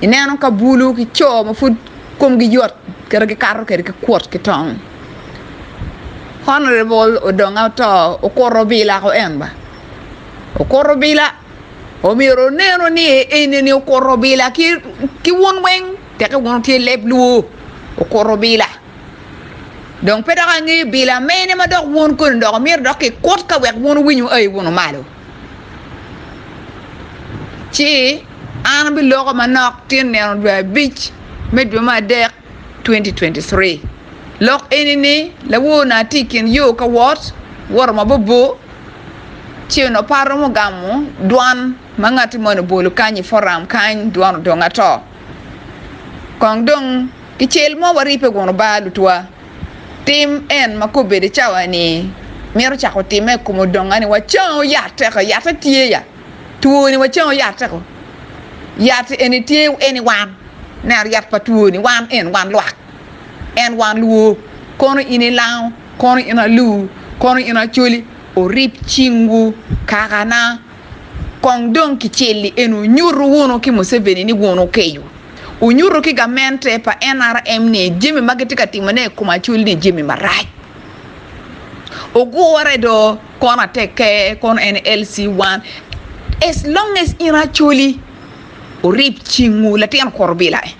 Ineno ka bulu ki co ma pud komgi yot kit gikato kwede ki kuot ki tong. Honorable odonge oto okuto obila ko en ba okuto obila omyero oneno ni enini okuto obila ki wun weng teke wun wutye leb luo okuto obila dong pe dok angeyo bila mene madok wun koni dok imito dok kikut kawek wun wuwinyo aye wunu malo. Ci an abiloko manok tyen nino dwe abic me dwe me adek 2023. Lok eni ni, Lawona tye i kin yo ka wot, woto ma bor bor, ci onongo par romo ogamo dwan ma ngatti moni obolo kany i foram kany, dwan odong ato. Kong dong ki cel mo waripe gunu ba lutwa. Tim en ma kobedo i cawa-ni mito cako timme i kom odongani. Wacango yat teka, yatte tye ya. Twoni wacango yat teka, yat eni tye eni wan. Neno yat pa twoni wan en wan lwak, en wan luwo. Kono in ilango, kono in aluwu, kono in acoli, orib cingwu kakana. Kong dong kicelli eni onyutu wunu ki Museveni ni wun wukeyo. Wunyutu ki gamente pa NRM ni jami ma gitye ka timone i kom Acol-li jami marac. Ogure do kono atekke, kono en LC1. As long as in Acoli. Wurib cingwu, latin kwor obila e,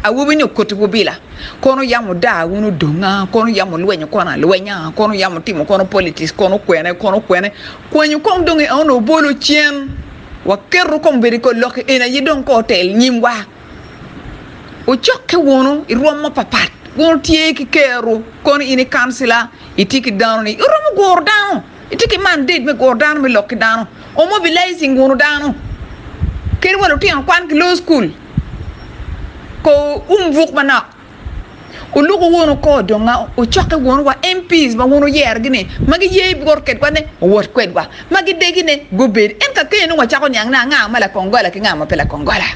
awobi-ni okotiwu bila, kono yam wudaa wun odonga, kono yam wulwenyo kono alwenya, kono yam wutimo kono politics, kono kwene, kono kwene, kwanyu kong dong i ono obolo cen, waketo kong bedo i kor lok-ki en aye dong kong otel nyimwa, wucokke wunu i rwom mapapat, wun wutye ki ker-ru, kono in i kancila itye ki dano-ni, iromo guro dano. Itye ki mandate me guro dano me lok ki dano, or mobilizing guro dano kadi wa lutino kwan ki loyo school ko um buk manok oluku wunu ko dong wucoki wunu wa MP's ma wun wuyero gi ni ma gi ye wot kwedwa ne owot kwedwa ma gi degi ne gubed en ka kene nongo wa cako niang ni anga ma lakongola ki nga ma pe lakongola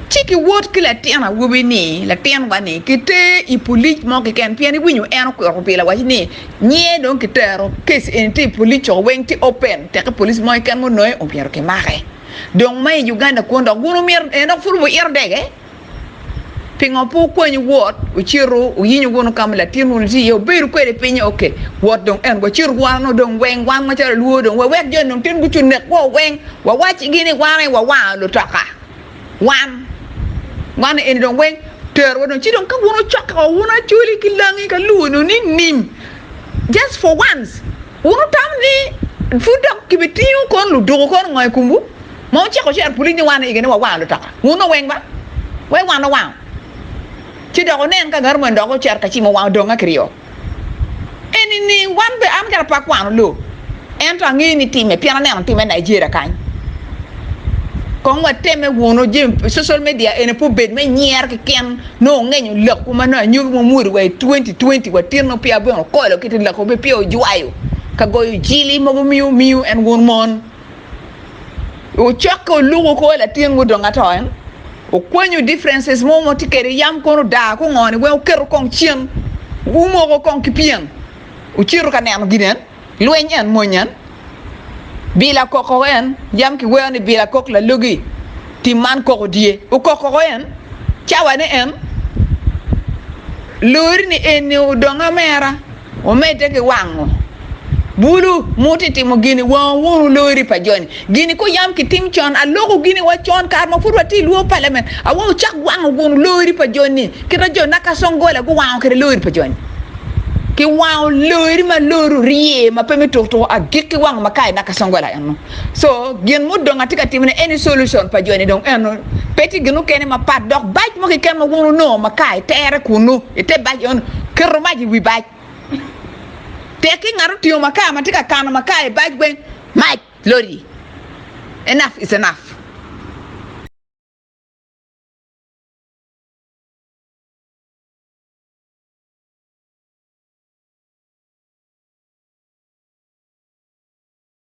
ci ki wot ki latin awobi ni latin wa ni ki ter I police mo kiken pien iwinyo en okwito pi lawaci ni Nyiye dong kitero case eni tye i police co weng tye open teki police mo keken munonge omyero kimake dong ma i Uganda kwon dok wun wumyero en dok pud wuito dege pingo pe wukwanyu wot wucito wuyinyo wunu kama latin wunu tye iye wubedo kwede i pinye ok wot dong en wacit wano dong weng wan macalo luo dong wawek joni dong tin gucung nekwa weng wawac cigi ni wan aye wawango lutoka. Wan, wan eni dong weng terowa dong ci dong ka wun wucokke wa wun Acholi ki Langi ka Luo-nu ni nim just for once wun wutamo ni pud dok kibitingo kono luduku kono ngo i komwu ma wucako cito pulic ni wan igene wawango lutoka wun dong weng ba wek wan owango ci dok wunen ka ngat omoni dok ocito kacimo wa odonge ki ryo. Eni ni wan bene an kara pe akwano loo ento angeyo ni time pien aneno time Nigeria kany kong wateme wunu je social media eni pe obed me nyer keken nongo ongenyo lakwu ma nongo anyogi mo mwodi wa i 2020 wa tyen nongo peya bene okolo kiti lakwu pe peya ojwayo ka goyo jili mogo miyo miyo en wun mon. Wucokke wuluk wuko latin mo dong ato en wukwenyo differences mo ma tye kede yam kono odaa ko ngo ni weng wuketo kong cen wumoko kong ki pyeng wucito ka neno gin en lweny en mony en bila koko en yam kiweo ni bila kok lalogi. Tim man koko dye. Okok koko en, cawa ni en lori ni eni odong amera, omedde ki wango bulu, muti timo gini, wango wunu lori pa joni. Gini ko yam ki tim con, aloko gini wa con kare ma pud watye ilwor palament, awa wucak wango gunu lori pa joni, kita jo Nakasongola guwango kede lori pa joni. Ki wango lori ma lori orye ma pe me tuk tuku, agikki wango ma ka i Nakasongola eno. So gin mudong atye ka timone eni solution pa joni dong eno pe tye gin mukene mapat dok bac mo keken ma wun wunongo ma ka itere kunnu ite bac eno keto mac iwi bac tekki ngat otingo makar matye ka kano makar i bac weng mac lodi enough is enough.